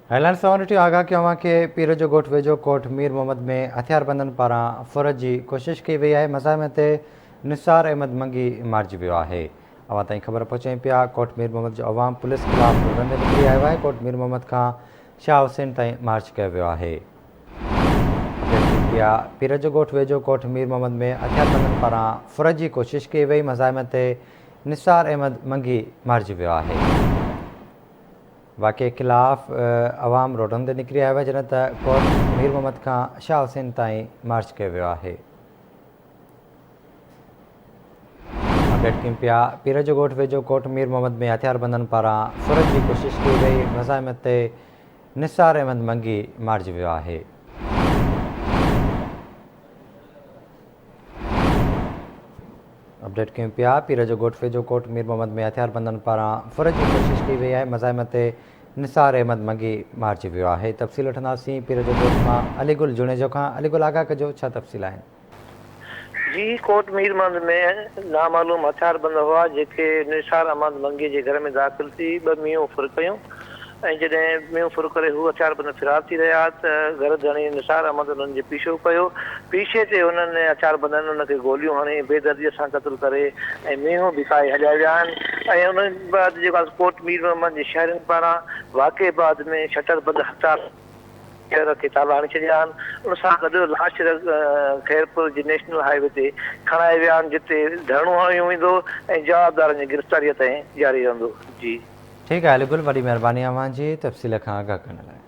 هيلانڊ seventy آگاهه ڪيو اوهان کي پير جو ڳوٺ ويجهو ڪوٽ مير محمد ۾ هٿياربندن پاران ڦر جي ڪوشش ڪئي وئي آهي مزاحمي تي نثار احمد منگي مارجي ويو آهي اوهان تائين خبر پهچائين پيا ڪوٽ مير محمد جو عوام پوليس خلاف رنگ نڪري آيو آهي ڪوٽ مير محمد کان شاهه حسين تائين مارچ ڪيو ويو آهي پيا پير جو ڳوٺ ويجهو ڪوٽ مير محمد ۾ هٿياربندن پاران ڦر جي ڪوشش ڪئي وئي مزاحمي تي نثار احمد منگي مارجي ويو آهي واقعي خلاف عوام روڊن تي نڪري آيو آهي جڏهن ته ڪورٽ مير محمد کان شاهه حسين تائين مارچ ڪيو ويو آهي. اپڊيٽ ڪيون پيا پير جو ڳوٺ ويجهو ڪورٽ مير محمد ۾ هٿياربندن پاران سرت جي ڪوشش ڪئي وئي مزاحمت تي نثار احمد منگي مارجي ويو آهي. اپڊيٽ ڪيون پيا پير جو ڳوٺ ويجهو ڪوٽ مير محمد ۾ هٿياربندن پاران ڦر جي ڪوشش ڪئي وئي آهي مزاحمت تي نثار احمد منگي مارجي ويو آهي تفصيل وٺنداسين پير جو ڳوٺ مان علي گل جوڻيجو کان علي گل آگاهه ڪجو ڇا تفصيل آهن. جي ڪوٽ مير محمد ۾ نامعلوم هٿياربند هئا جيڪي نثار احمد منگي جي گهر ۾ داخل ٿي ٻه مينهون ڦر ڪيون. ۽ جڏهن مينهن ڦر ڪري هو هٿيار بند فرار ٿي رهيا ته گهر ڌڻي نثار احمد انهن جي پيشو پيو. پيشي تي انهن هٿيار بندن ان کي گوليون هڻي بي درديء سان قتل ڪري ۽ مينهون به کائي هليا ويا آهن ۽ انهن بعد جيڪا ڪوٽ مير محمد جي شهرين پاران واقعي بعد ۾ شٽر بند هٿيار ٻيهر رٿي تالا هڻي ڇڏيا آهن، ان سان گڏ لاش خيرپور جي نيشنل هاء وي تي کڻائي ويا آهن، جتي ڌرڻو هنيو ويندو ۽ جوابدارن جي گرفتاريء تائين جاري رهندو. جي. ٺيڪ آهي علي گل وڏي مهرباني اوهان جي تفصيل کان آگاهه ڪرڻ لاء.